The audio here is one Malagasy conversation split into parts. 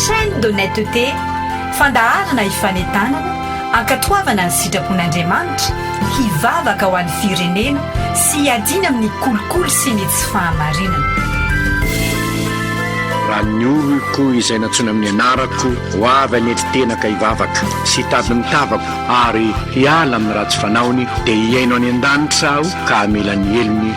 Chaîne d'honnêteté, fandaharana hifanentanana, hankatoavana ny sitrapon'Andriamanitra, hivavaka ho an'ny firenena sy hiadiana amin'ny kolikoly sy ny tsy fahamarinana. Raha ny oloko izay nantsoina amin'ny anarako ho avy hanetry tena ka hivavaka sy hitady ny tavako ary hiala amin'ny ratsy fanaony dia hihaino any an-danitra aho ka hamela ny helony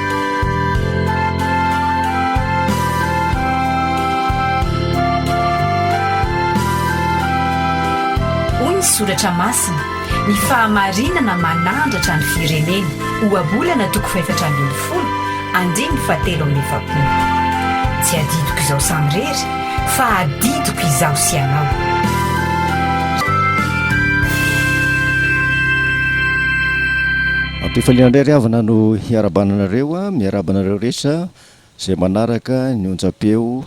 Hoy ny soratra masina, Ny fahamarinana manandratra ny firenena, Ohabolana toko fahefatra ambin'ny folo, andininy fahatelo amby efapolo. Tsy adidiko izaho samirery, fa adidiko izaho sy ianao. Ampifaliana indray ry havana no hiarabana anareo, miaraba anareo rehetra izay manaraka ny onjam-peo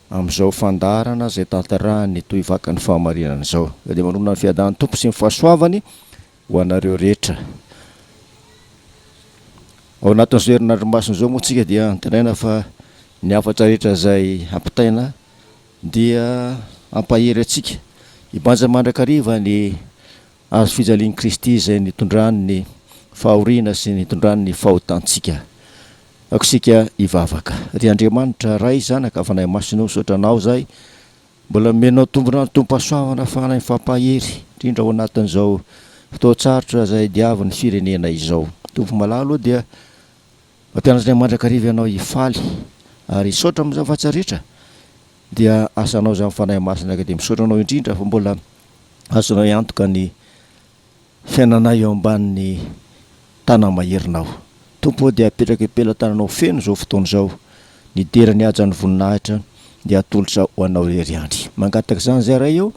amin'izao fandaharana izay tantarahan'ny Tohivakan'ny Fahamarinana izao. Dia manonona ny fiadan'ny Tompo sy ny fahasoavany ho anareo rehetra. Ao anatin'izao herinandro masina izao moa isika dia antenaina fa ny hafatra rehetra izay ampitaina dia hampahery antsika hibanja mandrakariva ny Hazo fijalian'i Kristy izay nitondrany ny fahoriana sy nitondrany ny fahotantsika. Ako isika hivavaka. Ry Andriamanitra, Ray, Zanaka, Fanahy Masina o, misaotra Anao izahay mbola nomenao tombon'antom-pahasoavana fananany fampahery, indrindra ao anatin'izao fotoan-tsarotra izay diavin'ny firenena izao. Tompo malala o, dia mampianatra ny mandrakariva Ianao hifaly, ary hisaotra amin'izany fahatsiaretra, dia asanao izany Fanahy Masina ka dia misaotra Anao indrindra fa mbola azonay antoka ny fiainanay eo ambanin'ny Tanamaherinao. Tompo ô, dia apetraka am-pelatananao feno izao fotoana izao, ny dera ny hajan'ny voninahitra dia atolotra ho Anao irery ihany. Mangataka izany izay Ray ô,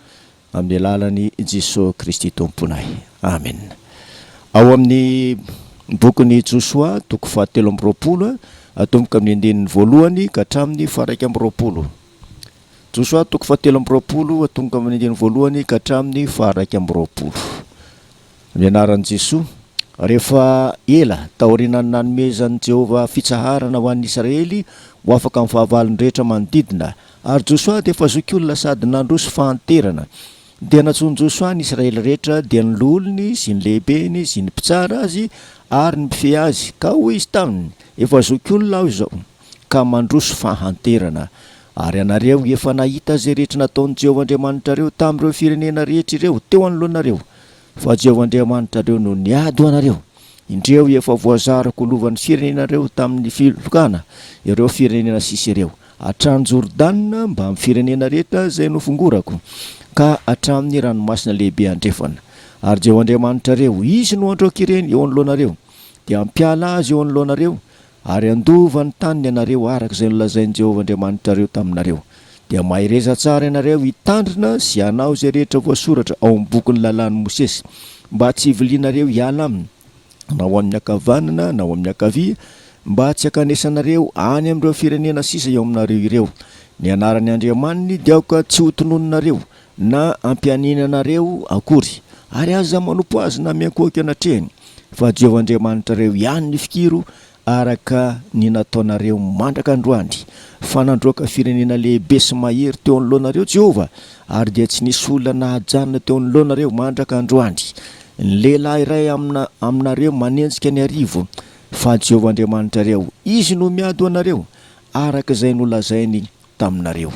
amin'ny alalan'i Jesoa Kristy Tomponay. Amena. Ao amin'ny bokin'i Josoa, toko fahatelo amby roapolo, atomboka amin'ny andininy voalohany ka hatramin'ny faha-iraika amby roapolo. Josoa toko fahatelo amby roapolo, atomboka amin'ny andininy voalohany ka hatramin'ny faharaika amby roapolo. Ny anaran'i Jesoa. Rehefa ela taorianan'ny nanomezan'i Jehovah fitsaharana ho an'ny Israely ho afaka amin'ny fahavalony rehetra manodidina, ary Josoa dia efa zokiolona sady nandroso fahanterana, dia nantsoin'i Josoa ny Israely rehetra, dia ny loholony sy ny lehibeny sy ny mpitsara azy ary ny mpifehy azy, ka hoy izy taminy, Efa zokiolona aho izao. ka mandroso fahanterana. Ary ianareo efa nahita izay rehetra nataon'i Jehovah Andriamanitrareo tamin'ireo firenena rehetra ireo teo anoloanareo, fa Jehovah Andriamanitrareo no niady ho anareo. Indreo efa voazariko ho lovan'ny firenenareo tamin'ny filokana ireo firenena sisa ireo, hatrany Jordana mbamin'ny firenena rehetra izay nofongorako, ka hatramin'ny ranomasina lehibe andrefana. Ary Jehovah Andriamanitrareo, izy no handroaka ireny eo anoloanareo, dia hampiala azy eo anoloanareo, Ary handova ny taniny ianareo araka izay nolazain'i Jehovah Andriamanitrareo taminareo. Dia mahereza tsara ianareo hitandrina sy hanao izay rehetra voasoratra ao amin'ny bokin'ny lalàn'i Mosesy, mba tsy hivilianareo hiala aminy, na ho amin'ny ankavanana na ho amin'ny ankavia, mba tsy hankanesanareo any amin'ireo firenena sisa eo aminareo ireo. Ny anaran'ny Andriamaniny dia aoka tsy hotononinareo, na hampianiana anareo akory, ary aza manompo azy na miankohoka eny an-trehiny, fa Jehovah Andriamanitrareo ihany ny fikiro araka ny nataonareo mandraka androany, fa nandroaka firenena lehibe sy mahery teo anoloanareo Jehovah, ary dia tsy nisy olona nahajanona teo anoloanareo mandraka androany ny lehilahy iray amina aminareo manenjika ny arivo, fa Jehovah Andriamanitrareo, izy no miady ho anareo, araka izay nolazainy taminareo,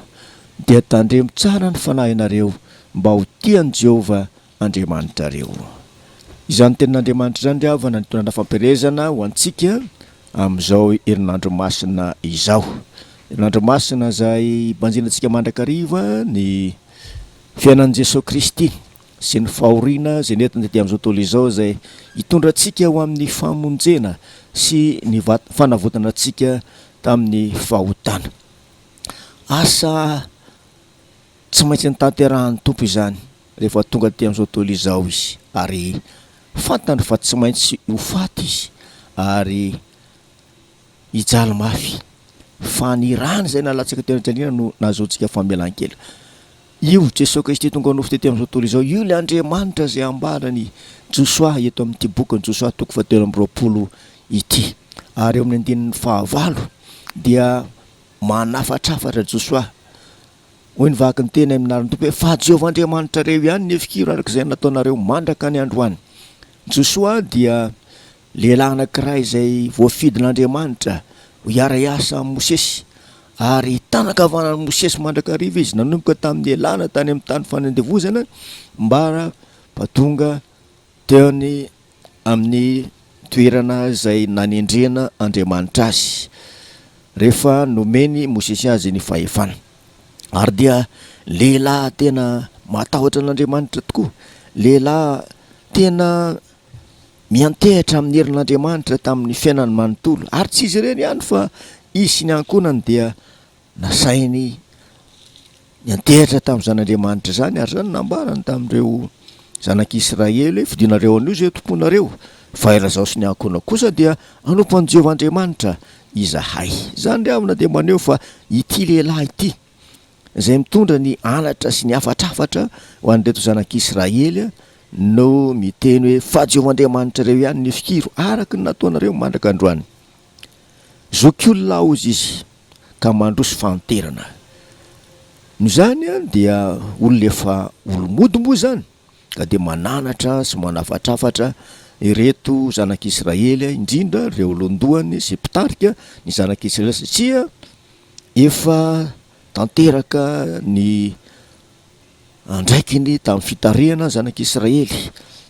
dia tandremo tsara ny fanahinareo mba ho tia an'i Jehovah Andriamanitrareo. Izany Tenin'Andriamanitra izany ry havana no nitondra fampielezana ho antsika amin'izao herinandro masina izao, herinandro masina izay hibanjinantsika mandrakariva ny fiainan'i Jesoa Kristy. sy ny fahoriana izay nentiny taty amin'izao tontolo izao izay hitondra antsika ho amin'ny famonjena sy ny fanavotana antsika tamin'ny fahotana. Asa tsy maintsy notanterahan'ny Tompo izany rehefa tonga taty amin'izao tontolo izao Izy ary fantany fa tsy maintsy ho faty Izy ary hijaly mafy fa ny rany izay nalatsaka teo anatrehantsika no nahazoantsika famelan-keloka. Io Jesoa Kristy tonga nofo tety amin'izao tontolo izao io ilay Andriamanitra izay ambaran'i Josoa eto amin'ity bokin'i Josoa toko fahatelo amby roapolo ity. Ary eo amin'ny andininy fahavalo dia manafatrafatra Josoa. Hoy ny vaky ny teny amin'ny anaran'ny Tompo hoe fa Jehovah Andriamanitrareo ihany ny hefikiro araka izay nataonareo mandraka ny androany. Josoa dia Lehilahy anankiray izay voafidin'Andriamanitra ho hiara-hiasa amin'i Mosesy, ary tanan-kavanan'i Mosesy mandrakariva izy, nanomboka tamin'ny nialana tany amin'ny tany fanandevozana mba tonga teny amin'ny toerana izay nanendrena Andriamanitra azy, rehefa nomen'i Mosesy azy ny fahefana. Ary dia lehilahy tena matahotra an'Andriamanitra tokoa, lehilahy tena Miantehitra amin'ny herin'Andriamanitra tamin'ny fiainany manontolo. Ary tsy izy irery ihany fa izy sy ny ankohonany dia nasainy niantehitra tamin'izany Andriamanitra izany ary izany nambarany tamin'ireo zanak'Israely hoe fidinareo anio izay tomponareo fa ery izaho sy ny ankohonako kosa dia hanompo an'i Jehovah Andriamanitra izahay. Izany ry havana dia maneho fa ity lehilahy ity izay mitondra ny halatra sy ny hafatrafatra ho an'ireto zanak'Israely no miteny hoe, Fa Jehovah Andriamanitrareo ihany ny fikiro araka ny nataonareo mandraka androany. Zokiolona aozy izy ka mandroso fahanterana. Noho izany dia olona efa olo-mody moa izany ka dia mananatra sy manafatrafatra ireto zanak'Israely, indrindra ireo lohandohany sy mpitarika ny zanak'Israely satria Efa tanteraka ny andraikiny tamin'ny fitarihana ny Zanak'i Israely.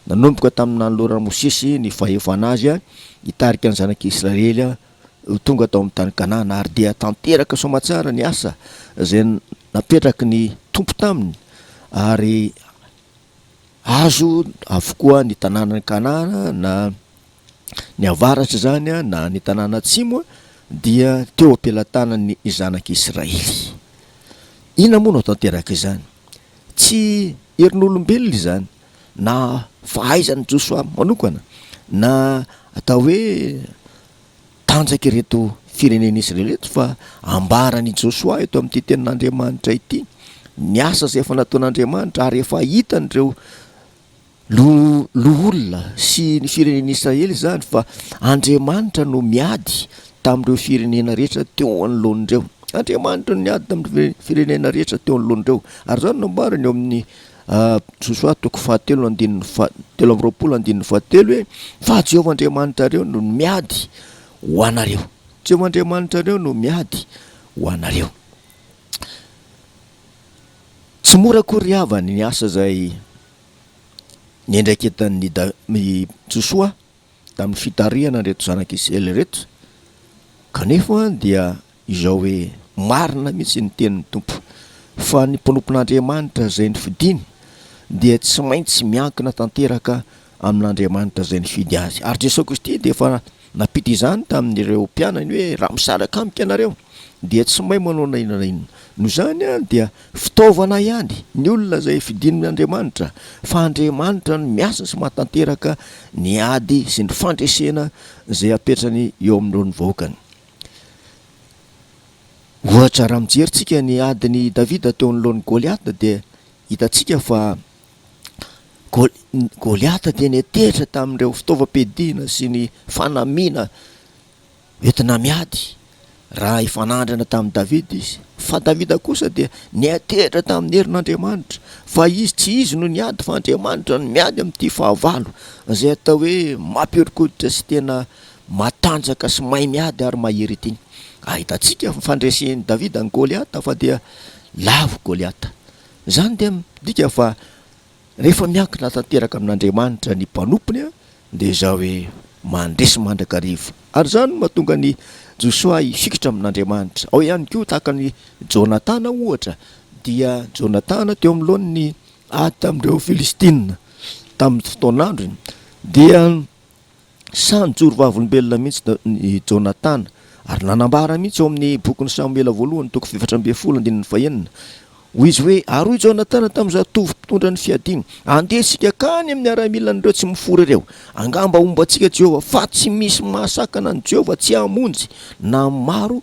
Nanomboka tamin'ny nanoloran'i Mosesy ny fahefana azy hitarika ny Zanak'i Israely ho tonga tao amin'ny tany Kanana, ary dia tanteraka soamatsara ny asa izay napetraky ny Tompo taminy, ary azo avokoa ny tanànan'i Kanana na. Ny avaratra izany na ny tanàna atsimo dia teo am-pelatanan'ny zanak'i Israely. Inona moa no tanteraka izany? Tsy herin'olombelona izany na fahaizan'i Josoa manokana na atao hoe tanjaky ireto firenen'i Israely ireto fa ambaran'i Josoa eto amin'ity tenin'Andriamanitra ity ny asa izay efa nataon'Andriamanitra ary efa hitan'ireo Lo, loholona, sy ny firenen'Israely izany, fa Andriamanitra no miady tamin'ireo firenena rehetra teo anoloan'ireo. Andriamanitra no niady tamin'ireo firenena rehetra teo anoloan'ireo. Ary izany no ambarany eo amin'ny Josoa toko fahatelo andininy faha, telo amby roapolo andininy fahatelo hoe, Fa Jehovah Andriamanitrareo no miady ho anareo. Jehovah Andriamanitrareo no miady ho anareo. Tsy mora akory ry havana ny asa izay. ny andraiketan'ny da- i Josoa tamin'ny fitarihana an'ireto zanak'i Israely ireto, kanefa dia izao hoe, Marina mihitsy ny tenin'ny Tompo, fa ny mpanompon'Andriamanitra izay nifidiny dia tsy maintsy miankina tanteraka amin'Andriamanitra izay nifidy azy. Ary Jesoa Kristy dia efa Nampita izany tamin'ireo mpianany hoe, Raha misaraka amiko ianareo, dia tsy may manao na inona na inona. Noho izany, dia fitaovana ihany ny olona izay fidin' Andriamanitra, fa Andriamanitra no miasa sy mahatanteraka ny ady sy ny fandresena izay apetrany eo amin'ireo ny vahoakany. Ohatra, raha mijery tsika ny adin'i Davida teo anoloan'i Goliata, dia hitantsika fa. Goliata dia niantehitra tamin'ireo fitaovam-piadiana sy ny fanamiana entina miady, raha hifanandrina tamin'i Davida izy. Fa Davida kosa dia niantehitra tamin'ny herin'Andriamanitra, fa izy tsy izy no niady, fa Andriamanitra no miady amin'ity fahavalo, izay atao hoe mampihoron-koditra sy tena matanjaka sy mahay miady ary mahery ity. Ahitantsika ny fandresen'i Davida an'i Goliata fa dia lavo Goliata. Izany dia midika fa rehefa miankina tanteraka amin'Andriamanitra ny mpanompony dia izao hoe, mandresy mandrakariva. Ary izany no mahatonga an'i Josoa hifikitra amin'Andriamanitra. Ao ihany koa tahaka an'i Jonatana ohatra, dia Jonatana teo amin'ny laoniny ady tamin'ireo Filistina tamin'ny fotoan'androny dia. Sahy nijoro vavolombelona mihitsy i Jonatana, ary nanambara mihitsy ao amin'ny Bokin'i Samoela Voalohany, toko efatra ambin'ny folo, andininy fahenina. Hoy izy hoe, Ary hoy Jonatana tamin'ny zatovo mpitondra ny fiadiana, Andeha isika hankany amin'ny miaramilan'ireo tsy mifoha ireo. Angamba homba antsika Jehovah, fa tsy misy mahasakana an'i Jehovah tsy hamonjy na ny maro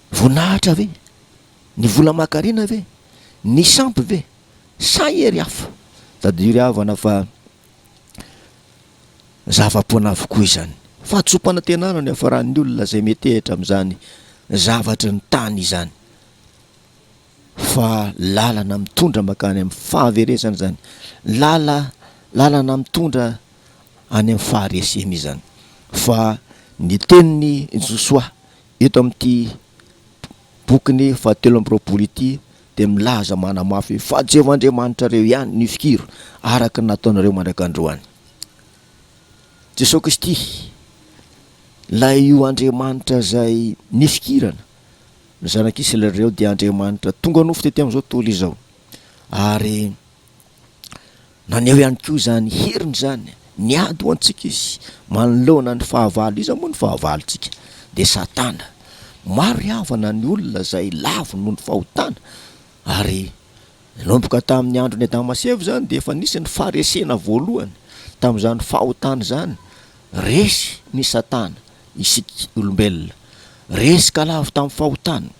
Voninahitra ve? Ny vola aman-karena ve? Ny sampy ve? Sa hery hafa? Tadidio ry havana fa zava-poana avokoa izany. Fahatsoam-panantenana no hiafaran'ny olona izay metehitra amin'izany zavatry ny tany izany. Fa lalana mitondra mankany amin'ny fahaverezana izany. Lala, lalana mitondra any amin'ny faharesena izany. Fa ny tenin'i Josoa Eto amin'ity bokiny fahatelo amby roapolo ity dia milaza manamafy hoe fa Jehovah Andriamanitrareo ihany ny fikiro araka ny nataonareo mandraka androany. Jesoa Kristy, ilay io Andriamanitra izay nifikirana ny zanak'Israely ireo dia Andriamanitra tonga nofo tety amin'izao tontolo izao ary Naneho ihany koa izany heriny izany, niady ho antsika izy. Manoloana ny fahavalo, iza moa no fahavalontsika? Dia Satana. Maro ry havana ny olona izay lavo noho ny fahotana, ary nanomboka tamin'ny andron'i Adama sy Eva izany dia efa nisy ny faharesena voalohany. Tamin'izany fahotana izany, resy ny Satana isika olombelona. Resy ka lavo tamin'ny fahotana,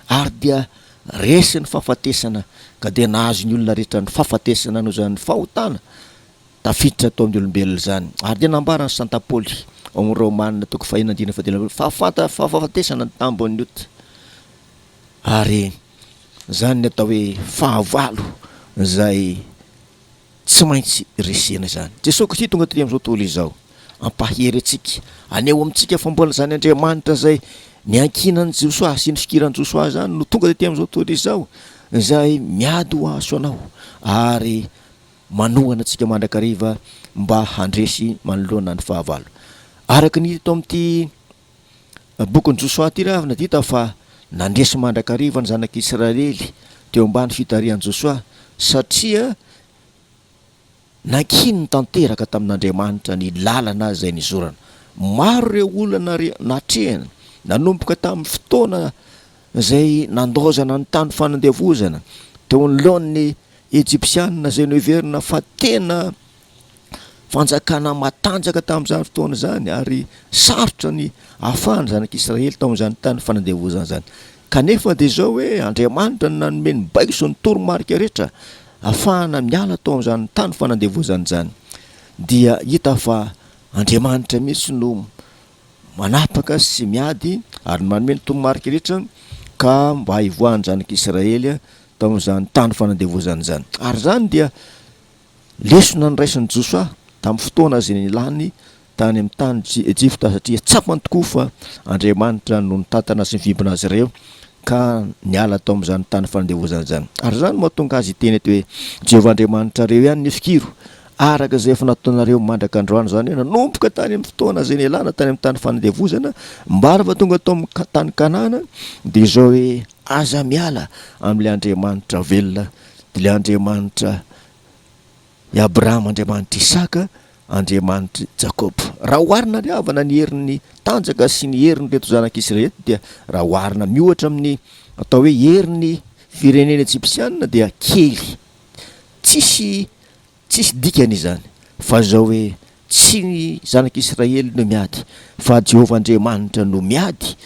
ary dia Resy ny fahafatesana ka dia nahazo ny olona rehetra ny fahafatesana noho izany fahotana tafiditra tao amin'ny olombelona izany. Ary dia nambaran'i Santa Paoly, ao amin'ny Romana toko fahenina andininy fahadimy ambin'ny folo, fa fanta fa fahafatesana ny tambin'ny ota. Ary izany ny atao hoe fahavalo izay. Tsy maintsy resena izany. Jesoa Kristy tonga tery amin'izao tontolo izao. Ampahery antsika. Aneho amintsika fa mbola izany Andriamanitra izay niankinan'i Josoa sy nifikiran'i Josoa izany no tonga tety amin'izao tontolo izao, izay miady ho ahy sy ho anao ary manohana antsika mandrakariva mba handresy manoloana ny fahavalo. Araka ny hita eto amin'ity Bokin'i Josoa ity raha avy nadita fa nandresy mandrakariva ny zanak'Israely teo ambany fitarihan'i Josoa satria nankininy tanteraka tamin'Andriamanitra ny lalana izay nizorana. Maro ireo olana natrehany, nanomboka tamin'ny fotoana izay nandaozana ny tany fanandevozana teo anoloan'ny Ejipsianina izay noheverina fa tena fanjakana matanjaka tamin'izany fotoana izany ary sarotra ny ahafahan'ny zanak'Israely tao amin'izany tany fanandevozana izany. Kanefa dia izao hoe Andriamanitra no nanome ny baibo sy ny toromarika rehetra ahafahana miala tao amin'izany tany fanandevozana izany. Dia hita fa Andriamanitra mihitsy no manapaka sy miady ary manome ny toromarika rehetra ka mba hivoahan'ny zanak'Israely tao amin'izany tany fanandevozana izany. Ary izany dia Lesona noraisin'i Josoa tamin'ny fotoana izay nilany tany amin'ny tanin'i Ejipta, satria tsapany tokoa fa Andriamanitra no nitantana sy nivimbina azy ireo ka niala tao amin'izany tany fandevoizana izany. Ary izany no mahatonga azy hiteny eto hoe, Jehovah Andriamanitrareo ihany ny fikiro, araka izay efa nataonareo mandraka androany, izany hoe nanomboka tany amin'ny fotoana izay nialana tany amin'ny tany fandevoizana mba rehefa tonga tao amin'ny tany Kanana dia izao hoe, Aza miala amin'ilay Andriamanitra velona Ilay Andriamanitra i Abrahama, Andriamanitra Isaka, Andriamanitra i Jakoba. Raha oharina amin'ny havana ny herin'ny tanjaka sy ny herin'ireto zanaka Israely ireto dia raha oharina miohatra amin'ny atao hoe herin'ny firenena ejipsianina dia kely. Tsisy tsisy dikany izany fa izao hoe tsy ny zanaka Israely no miady fa Jehovah Andriamanitra no miady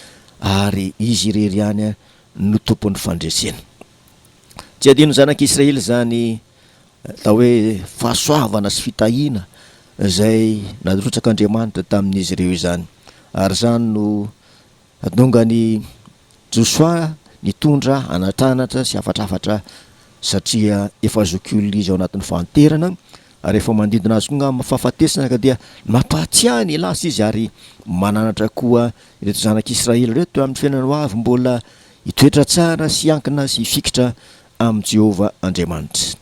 ary izy irery ihany no tompon'ny fandresena. Tsy adinon'ny zanak'i Israely izany atao hoe fahasoavana sy fitahiana izay narotsak'Andriamanitra tamin'izy ireo izany. Ary izany no nahatonga an'i Josoa nitondra anatranatra sy hafatrafatra satria efa zokiolona izy ao anatin'ny fahanterana ary efa manodidina azy koa angamba ny fahafatesana ka dia nampahatsiahy ny lasa izy ary mananatra koa ireto zanak'i Israely ireto amin'ny fiainana ho avy mbola Hitoetra tsara sy hiankina sy hifikitra amin'i Jehovah Andriamanitra.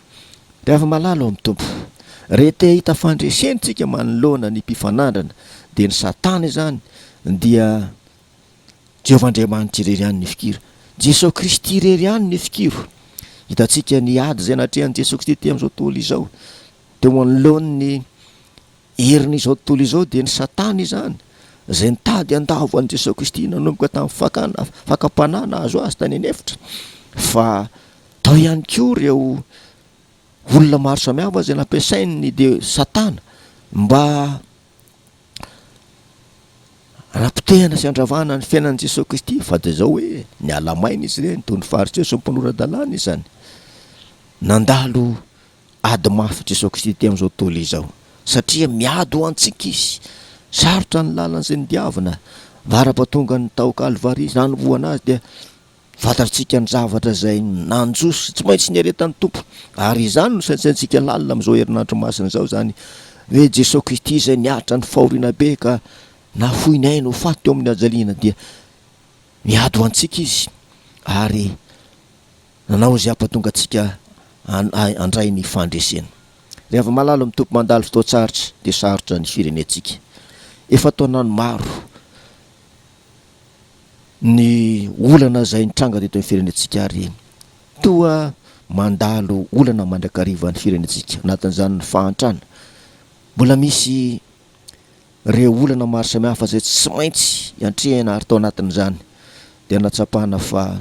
Ry afa-malala ao amin'ny Tompo, rehefa te hahita fandresena isika manoloana ny mpifanandrana, dia ny Satana izany, dia Jehovah Andriamanitra irery ihany ny fikiro. Jesosy Kristy irery ihany ny fikiro. Hitantsika ny ady izay natrehan'i Jesosy Kristy tamin'izao tontolo izao, teo anoloan'ny. Herin'izao tontolo izao dia ny Satana izany, izay nitady handavo an'i Jesoa Kristy nanomboka tamin'ny fakana fakam-panahy nahazo Azy tany an'efitra, fa tao ihany koa ireo olona maro samihafa izay nampiasain'ny dia Satana mba hanapotehana sy handravana ny fiainan'i Jesoa Kristy, fa dia izao hoe niala maina izy ireny, toy ny Fariseo sy ny mpanora-dalàna izany nandalo Ady mafy Jesoa Kristy ity amin'izao tontolo izao satria miady ho antsika Izy. Sarotra ny lalana izay nodiavina, varapa tongan'ny tao Kalvary Izy, nanombohana Azy dia fantatritsika ny zavatra izay nanjo sy tsy maintsy niaretan'ny Tompo. Ary izany no saintsaintsika lalina amin'izao herinandro masina izao izany hoe Jesoa Kristy izay niaritra ny fahoriana be ka nafoiny ainy ho faty teo amin'ny hajaliana dia miady ho antsika Izy ary Nanao izay hampatonga antsika hanahy handray ny fandresena. Ry Havamalalo mitopy mandalo fotoan-tsarotra dia sarotra ny firenentsika. Efa taonany maro ny olana izay nitranga teto amin'ny firenentsika ary toa mandalo olana mandrakariva ny firenentsika, anatin'izany ny fahantrana. Mbola misy ireo olana maro samihafa izay tsy maintsy iantrehana ary tao anatin'izany dia nahatsapana fa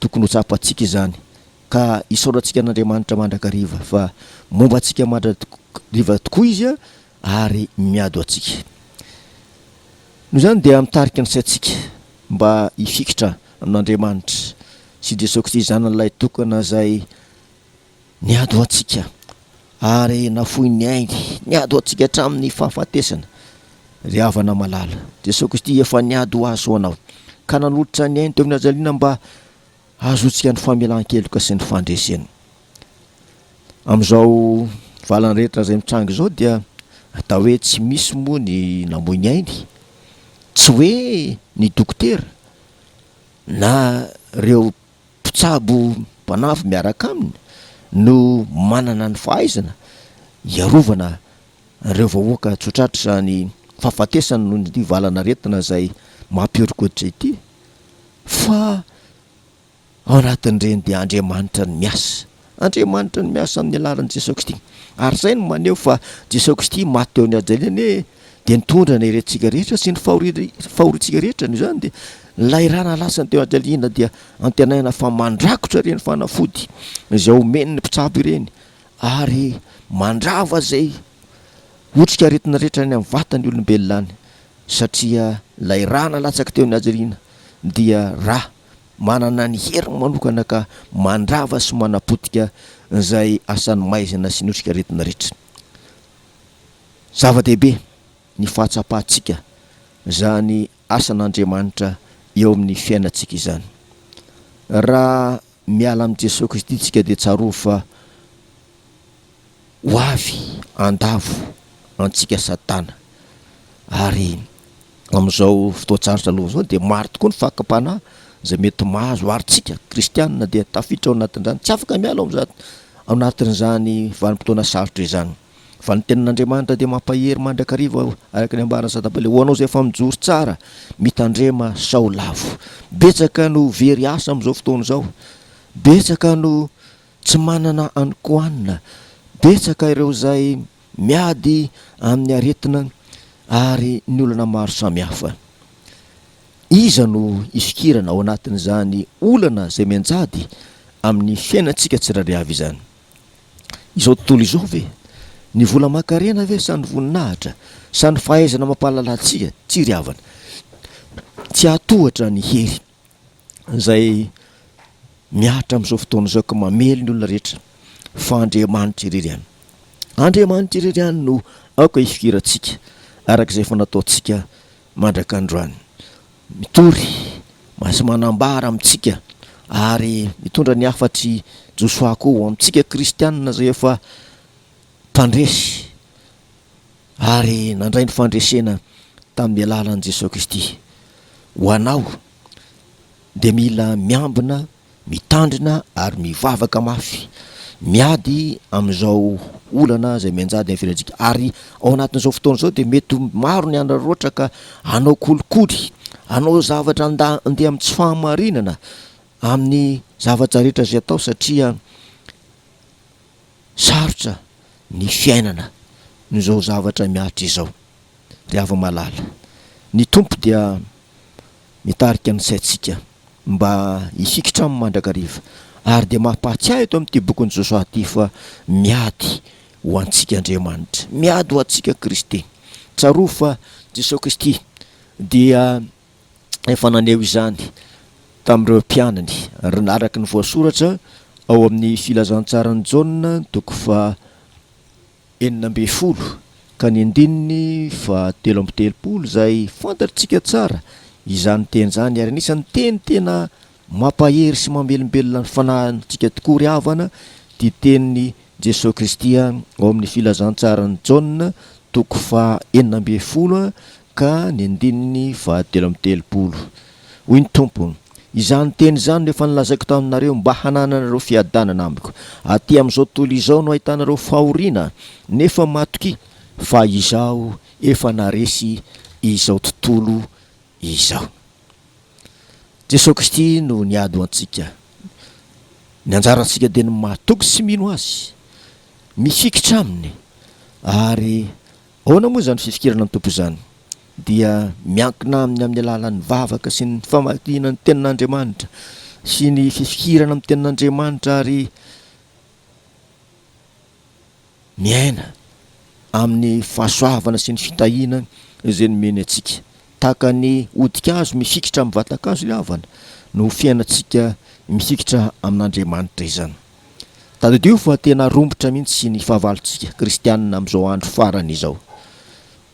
Tokony ho tsapantsika izany ka isaorantsika an'Andriamanitra mandrakariva fa momba antsika mandrakariva tokoa Izy ary miado antsika. Noho izany dia mitarika ny saintsika mba hifikitra amin'Andriamanitra sy Jesoa Kristy Zanany Lahy Tokana izay Niady ho antsika ary nafoiny ny ainy. Niady ho antsika hatramin'ny fahafatesana. Ry havana malala, Jesoa Kristy efa niady ho azy ho anao, ka nanolotra ny ainy teo amin'ny hajaliana mba hahazoantsika ny famelan-keloka sy ny fandresena. Amin'izao valiny rehetra izay mitranga izao dia atao hoe tsy misy moa ny namoy ny ainy, tsy hoe ny dokotera na ireo mpitsabo mpanafo miaraka aminy no manana ny fahaizana hiarovana ireo vahoaka tsotratr'izany fahafatesana noho ity valan'aretina izay mampihorokoditra ity fa ao anatin'ireny dia Andriamanitra no miasa. Andriamanitra no miasa amin'ny alalan'i Jesoa Kristy. Ary izay no maneho fa Jesoa Kristy maty teo amin'ny hajaliany hoe dia nitondra ny herentsika rehetra sy ny fahoriantsika rehetra. Noho izany dia ilay ra nalasany teo hajaliana dia antenaina fa mandrakotra ireny fanafody izay omen'ny mpitsabo ireny ary mandrava izay otrik'aretina rehetra any amin'ny vatan'ny olombelona any satria ilay ra nalatsaky teo ny hajaliana dia ra Manana ny heriny manokana ka mandrava sy manapotika izay asan'ny maizina sy ny otrikaretina rehetra. Zava-dehibe ny fahatsapantsika izany asan'Andriamanitra eo amin'ny fiainantsika izany. Raha miala amin'i Jesoa Kristy isika dia tsarovy fa. Ho avy handavo antsika Satana. Ary amin'izao fotoan-tsarotra aloha izao dia maro tokoa ny fakam-panahy izay mety mahazo ary isika kristiana dia tafiditra ao anatin'izany. Tsy afaka miala ao amin'izany, ao anatin'izany vanim-potoana sarotra izany. Fa ny Tenin'Andriamanitra dia mampahery mandrakariva araka ny ambaran'i Satambale, ho anao izay efa mijoro tsara, mitandrema sao lavo. Betsaka no very asa amin'izao fotoana izao. Betsaka no. Tsy manana hanikohanina. Betsaka ireo izay miady amin'ny aretina ary ny olana maro samihafa. Iza no hisokirana ao anatin'izany olana izay mianjady amin'ny fiainantsika tsirairay avy izany? Izao tontolo izao ve? Ny vola aman-karena ve sa ny voninahitra sa ny fahaizana mampahalala antsika? Tsy ry havana. Tsy hahatohatra ny hery. izay mihatra amin'izao fotoana izao ka mamely ny olona rehetra fa Andriamanitra irery ihany. Andriamanitra irery ihany no aoka hifikirantsika araka izay efa nataontsika mandrak'androany. Mitory sy manambara amintsika ary mitondra ny hafatr'i Josoa koa ho amintsika kristianina izay efa mpandresy Ary nandray ny fandresena tamin'ny alalan'i Jesoa Kristy. Ho anao dia mila miambina, mitandrina ary mivavaka mafy, miady amin'izao olana izay mianjady amin'ny fiainantsika. Ary ao anatin'izao fotoana izao dia mety ho maro ny hanararaotra ka hanao kolikoly, hanao zavatra handeha amin'ny tsy fahamarinana amin'ny zavatra rehetra izay atao satria. Sarotra ny fiainana amin'izao zavatra mihatra izao ry hava-malala. Ny Tompo dia mitarika ny saintsika mba hifikitra Aminy mandrakariva ary dia mampahatsiahy eto amin'ity bokin'i Josoa ity fa miady ho antsika Andriamanitra, miady ho antsika Kristy. Tsarovy fa Jesoa Kristy dia. efa naneho izany tamin'ireo mpianany, ary araka ny voasoratra ao amin'ny Filazantsaran'i Jaona, toko faha enina ambin'ny folo ka ny andininy faha telo amby telopolo, izay fantatritsika tsara izany teny izany, ary anisan'ny teny tena mampahery sy mamelombelona ny fanahintsika tokoa ry havana ity tenin'i Jesoa Kristy ao amin'ny Filazantsaran'i Jaona, toko faha enina ambin'ny folo Ka ny andininy fahatelo amby telopolo. Hoy ny Tompo, Izany teny izany no efa nolazaiko taminareo mba hanananareo fiadanana amiko. Aty amin'izao tontolo izao no ahitanareo fahoriana, nefa matokia, fa Izaho efa naharesy izao tontolo izao. Jesoa Kristy no niady ho antsika. Ny anjarantsika dia ny matoky sy mino Azy, mifikitra Aminy, ary Ahoana moa izany fifikirana an-tompo izany? Dia miankina aminy amin'ny alalan'ny vavaka sy ny famakiana ny tenin'Andriamanitra sy ny fifikirana amin'ny tenin'Andriamanitra ary miaina amin'ny fahasoavana sy ny fitahiana izay nomeny antsika. Tahaka ny hodi-kazo mifikitra amin'ny vatan-kazo ilay havana no fiainantsika mifikitra amin'Andriamanitra izany. Tadidio fa tena romotra mihitsy ny fahavalontsika kristianina amin'izao andro farany izao. Noho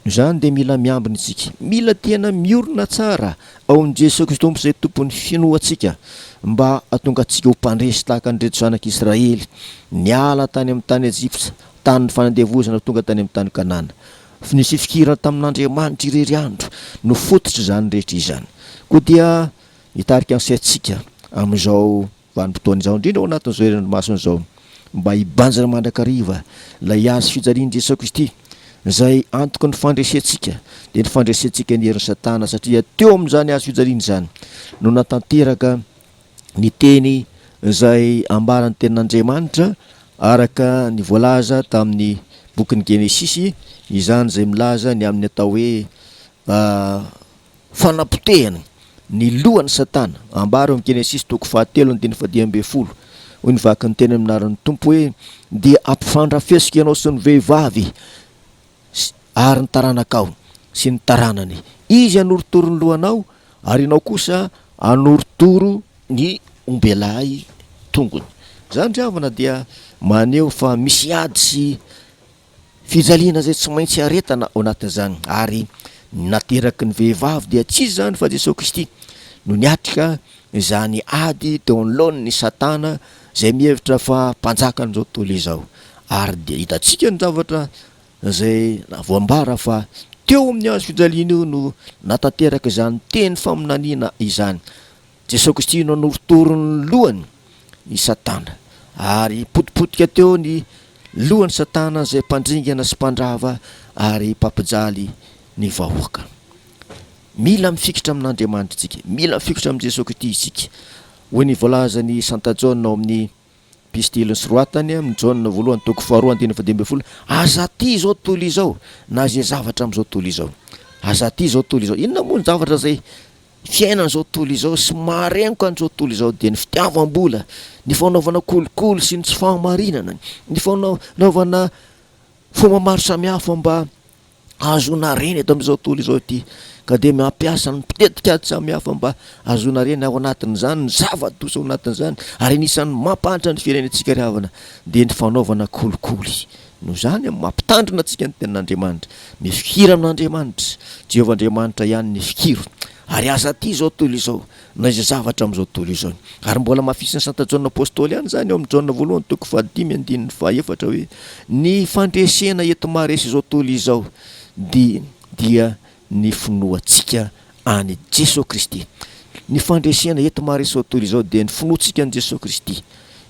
izany dia mila miambina isika. Mila tena miorina tsara ao amin'i Jesoa Kristy Tompo izay Tompon'ny finoantsika mba hahatonga antsika ho mpandresy tahaka an'ireto zanak'Israely niala tany amin'ny tany Ejipsa tanin'ny fanandevozana tonga tany amin'ny tany Kanana. Ny fifikirana tamin'Andriamanitra irery andro no fototr'izany rehetra izany. Koa dia mitarika ny saintsika amin'izao. Vanim-potoana izao indrindra ao anatin'izao herinandro masina izao mba hibanjina mandrakariva ilay hazo fijalian'i Jesoa Kristy, izay antoky ny fandresentsika, dia ny fandresentsika ny herin'i Satana, satria teo amin'izany hazo fijaliana izany no natanteraka ny teny izay ambaran'ny Tenin'Andriamanitra araka ny voalaza tamin'ny bokin'ny Genesisy, izany izay milaza ny amin'ny atao hoe Fanapotehana ny lohan'i Satana. Ambara eo amin'ny Genesisy toko fahatelo andininy fahadimy ambin'ny folo, hoy ny vaky ny teny amin'ny anaran'ny Tompo hoe, Dia hampifandrafesiko ianao sy ny vehivavy ary ny taranakao sy ny taranany. Izy hanorotoro ny lohanao ary ianao kosa hanorotoro ny ombelahy tongony. Izany ry havana dia maneho fa misy ady sy Fijaliana izay tsy maintsy iaretana ao anatin'izany ary ny nateraky ny vehivavy dia tsy iza izany fa Jesoa Kristy no niatrika izany ady teo anoloan'ny Satana izay mihevitra fa mpanjakan'izao tontolo izao ary dia hitantsika ny zavatra izay voambara fa teo amin'ny hazo fijaliana io no natanteraka izany teny faminaniana izany Jesoa Kristy no norotoron'ny lohany i Satana, ary potipotika teo ny lohan'i Satana izay mpandringana sy mpandrava ary mpampijaly ny vahoaka. Mila mifikitra amin'Andriamanitra isika, mila mifikitra amin'i Jesoa Kristy isika, hoy ny voalazan'i Santa Jaona ao amin'ny. Pistiliny sy roatany amin'ny Jaona voalohany toko faharoa andininy fahadimy ambin'ny folo, Aza aty izao tontolo izao, na izay zavatra amin'izao tontolo izao. Aza aty izao tontolo izao. Inona moa ny zavatra izay fiainan'izao tontolo izao sy maharengo ka an'izao tontolo izao dia ny fitiavam-bola, ny fanaovana kolikoly sy ny tsy fahamarinana, ny fanaovana fomba maro samihafa mba ahazoana reny eto amin'izao tontolo izao ity ka dia mampiasa ny mpitetika ady samihafa mba ahazoana reny ao anatin'izany ny zava-doza ao anatin'izany ary anisan'ny mampahantra ny firenentsika ry havana dia ny fanaovana kolikoly noho izany amin'ny mampitandrina antsika ny tenin'Andriamanitra ny fikira amin'Andriamanitra Jehovah Andriamanitra ihany ny fikiro ary aza aty izao tontolo izao na izay zavatra amin'izao tontolo izao iny. Ary mbola hamafisin'i Santa Jaona Apostoly ihany izany ao amin'ny Jaona voalohany toko fahadimy andininy fahaefatra hoe, Ny fandresena eto maharesy izao tontolo izao dia dia ny finoantsika an'i Jesoa Kristy. Ny fandresena eto maharesy izao tontolo izao dia ny finoantsika an'i Jesoa Kristy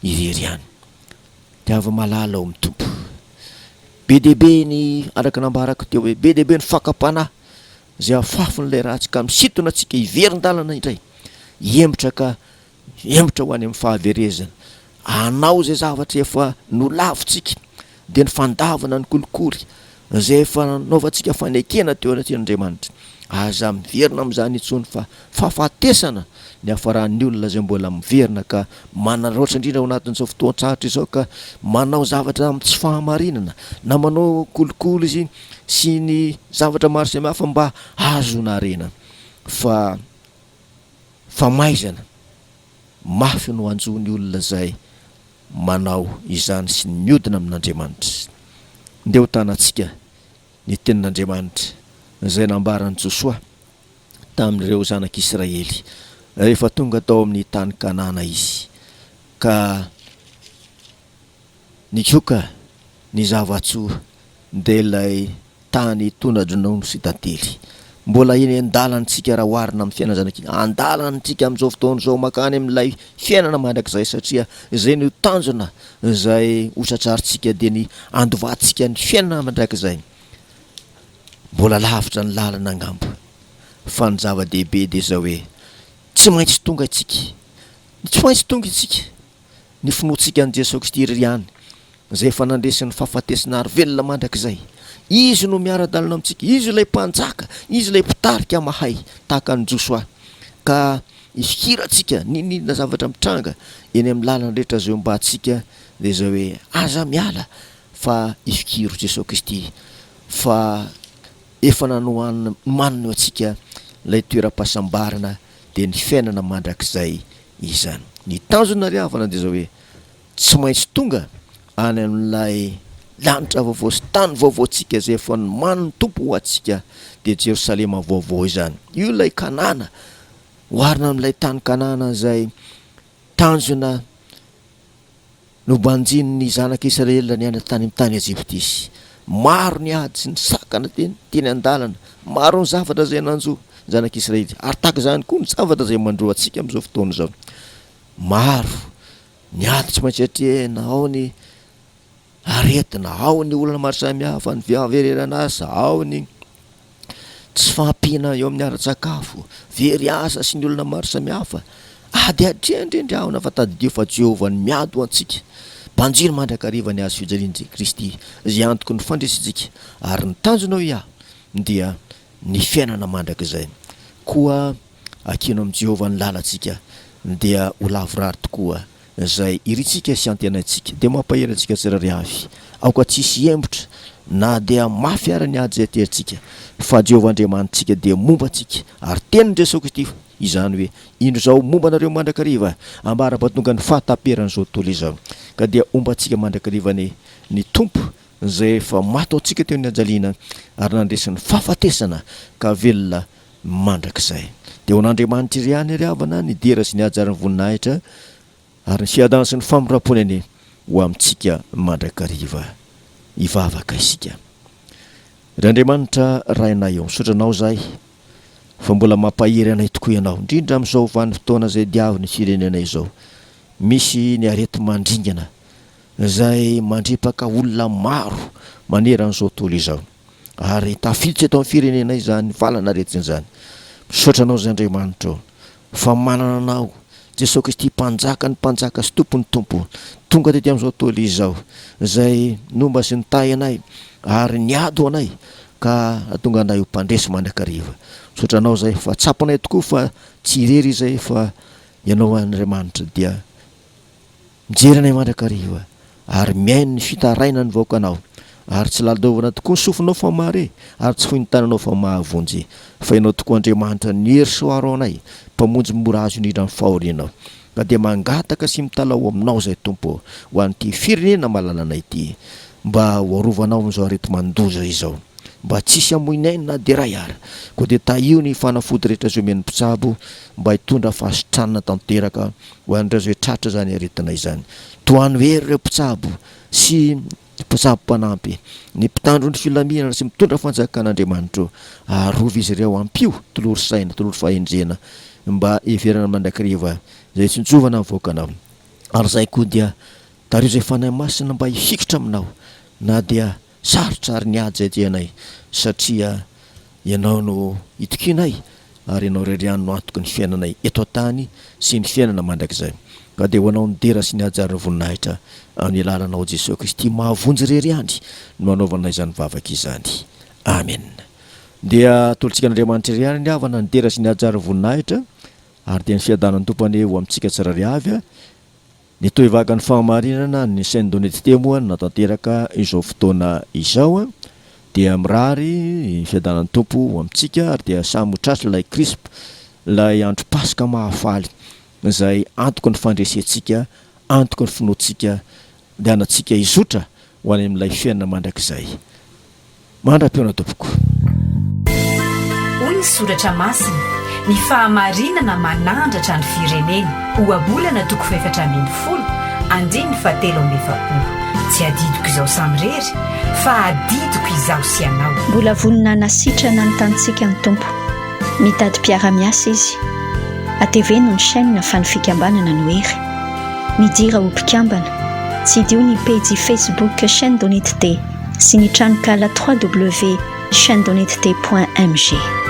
irery ihany. Dia avy malala ao amin'ny Tompo. Be dia be ny, araka nambarako teo hoe, be dia be ny fakam-panahy Izay afafin'ilay ratsy ka misintona antsika hiverin-dalana indray, hihemotra ka hihemotra ho any amin'ny fahaverezana. Hanao izay zavatra efa nolavintsika, dia ny fandavana ny kolikoly, izay efa nanaovantsika fanekena teo anatrehan'Andriamanitra. Aza miverina amin'izany intsony fa fahafatesana ny hafaran'ny olona izay mbola miverina ka manararaotra indrindra ao anatin'izao fotoan-tsarotra izao ka manao zavatra amin'ny tsy fahamarinana na manao kolikoly izy sy ny zavatra maro samihafa mba hahazoana harena fa famaizana mafy no hanjo ny olona izay manao izany sy ny miodina amin'Andriamanitra. Ndeha ho tanantsika ny tenin'Andriamanitra izay nambaran'i Josoa. tamin'ireo zanak'Israely rehefa tonga tao amin'ny tany Kanana izy, ka nitsoka ny zava-tsoa, dia ilay tany tona-dronono sy tantely. Mbola eny an-dalantsika raha oharina amin'ny fiainana zanak'i. An-dalantsika amin'izao fotoana izao mankany amin'ilay fiainana mandrakizay, satria izay no tanjona izay hotratrarintsika, dia ny handovantsika ny fiainana mandrakizay. Mbola lavitra ny lalana angamba, fa ny zava-dehibe dia izao hoe tsy maintsy tonga isika, tsy maintsy tonga isika, ny finoantsika an'i Jesoa Kristy Irery ihany, Izay efa nandresy ny fahafatesana ary velona mandrakizay. Izy no miara-dalana amintsika, Izy ilay Mpanjaka, Izy ilay Mpitarika mahay, tahaka an'i Josoa. Ka ifikirantsika n'inon'inona zavatra mitranga eny amin'ny lalana rehetra izay hombantsika dia izao hoe, Aza miala Fa ifikiro Jesoa Kristy fa efa nanohanina manina eo antsika ilay toeram-pahasambarana dia ny fiainana mandrakizay izany. Ny tanjona ry havana dia izao hoe tsy maintsy tonga any amin'ilay lanitra vaovao sy tany vaovao antsika izay efa nomanin'ny Tompo ho antsika dia Jerosalema vaovao izany. Io ilay Kanana oharina amin'ilay tany Kanana izay tanjona Nobanjin' ny Zanak' Isiraela niaina tany amin' ny tany ejiptisy. Maro ny ady sy ny sakana teny, teny an-dalana. Maro ny zavatra izay nanjo ny Zanak' Isiraely, ary tahaka izany koa ny zavatra izay mandro antsika amin' izao fotoana izao. Maro ny ady tsy maintsy atrehina, ao ny aretina, ao ny olana maro samihafa, ny fiavereran' asa, ao ny. tsy fahampiana eo amin'ny ara-tsakafo, very asa sy ny olana maro samihafa. Ady hatreny ireny rahona fa tadidio fa Jehovah no miady ho antsika. Banjino mandrakariva ny hazo fijalian'i Kristy izay antoky ny fandresentsika ary ny tanjonao hiahy dia ny fiainana mandrakizay. Koa akino amin'i Jehovah ny lalantsika dia ho lavorary tokoa. Izay irintsika sy antenaintsika dia mampahery antsika tsirairay avy. Aoka tsy hisy hihembotra na dia mafy àry ny ady izay aterintsika, fa Jehovah Andriamanitsika dia momba antsika. Ary tenin'i Jesoa Kristy izany hoe, Indro izaho momba anareo mandrakariva ambara-pahatonga ny fahataperan'izao tontolo izao. Ka dia homba antsika mandrakariva anie ny Tompo, izay efa maty ho antsika teo ny hajaliana ary nandresy ny fahafatesana ka velona mandrakizay. Dia ho an'Andriamanitra irery ihany ary havana ny dera sy ny haja ary ny voninahitra ary ny fiadana sy ny famindrampony anie ho amintsika mandrakariva. Hivavaka isika. Ry Andriamanitra Rainay ô, misaotra Anao izahay fa mbola mampahery anay tokoa Ianao, indrindra amin'izao vanim-potoana izay diavin'ny firenena izao. Misy ny areti-mandringana izay mandripaka olona maro maneran'izao tontolo izao. ary tafiditra eto amin'ny firenenay izany valan'aretina izany. Misaotra anao izay Andriamanitra ô, fa manana anao Jesoa Kristy mpanjaka ny mpanjaka sy Tompo ny Tompo, tonga tety amin'izao tontolo izao, izay nomba sy nitahy anay ary niady ho anay ka hahatonga anay ho mpandresy mandrakariva. Misaotra anao izay fa tsapanay tokoa fa tsy irery izay fa ianao Andriamanitra dia Mijery anay mandrakariva ary mihaino ny fitarainan'ny vahoakanao, ary tsy lalaovana tokoa ny sofinao fa mahare, ary tsy fohy ny tananao fa mahavonjy, fa ianao tokoa Andriamanitra ny hery sy hoaro anay, Mpamonjy mora azo indrindra amin'ny fahoriana. Ka dia mangataka sy mitalaho ho aminao izahay, Tompo ô, ho an'ity firenena malalana ity, mba ho arovanao amin'izao areti-mandoza izao, mba tsy hisy hamoy ny ainy na dia iray ary, koa dia tahio ny fanafody rehetra izay omen'ny mpitsabo, mba hitondra fahasitranana tanteraka Ho an'ireo izay tratra izany aretina izany, tohano hery ireo mpitsabo sy mpitsabo mpanampy, ny mpitandro ny filaminana sy mitondra fanjakan'Andriamanitro. Arovy izy ireo, ampio tolory saina, tolory fahendrena mba hiheverana mandrakariva izay tsy nitsovana mivoakanao. Ary izay koa dia tariho izay Fanahy Masina mba hifikitra aminao na dia Sarotra ary ny ady izay dianay satria Ianao no itokianay ary Ianao irery ihany no antoky ny fiainanay eto an-tany sy ny fiainana mandrakizay. Ka dia ho Anao ny dera sy ny hajarin' ny voninahitra amin' ny alalan' ao Jesoa Kristy mahavonjy irery ihany no anaovana izany vavaka izany. Amena. Dia atolotsika an' Andriamanitra irery ihany ry havana ny dera sy ny hajarin' ny voninahitra ary dia ny fiadanan' ny Tompo anie ho amintsika tsirairay avy. Nitohy vaky ny fahamarinana an'ny Sendonetsite moa na tanteraka izao fotoana izao dia mirary ny fiadanan'ny Tompo ho amintsika ary dia samy ho tratry ilay Krisp ilay andro Paska mahafaly izay antoky ny fandresentsika antoky ny finoantsika andianantsika hizotra ho any amin'ilay fiainana mandrakizay Mandra-pihaona tompoko. Hoy ny Soratra Masina, Ny fahamarinana manandratra ny firenena. Ohabolana toko fahefatra ambin'ny folo, andininy fahatelo amby efapolo. Tsy adidiko izao samirery, fa adidiko izaho sy ianao. Mbola vonona hanasitrana ny tanintsika ny Tompo. Mitady mpiara-miasa Izy. Ateveno ny chaîne fa ny fikambanana no hery. Midira ho mpikambana. Tsidiho ny pejy Facebook Chaîne Donite Te. sy ny tranonkala www.chainedonnetd.mg.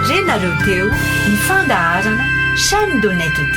Re nareo teo ny fandaharana Chaîne de Net D.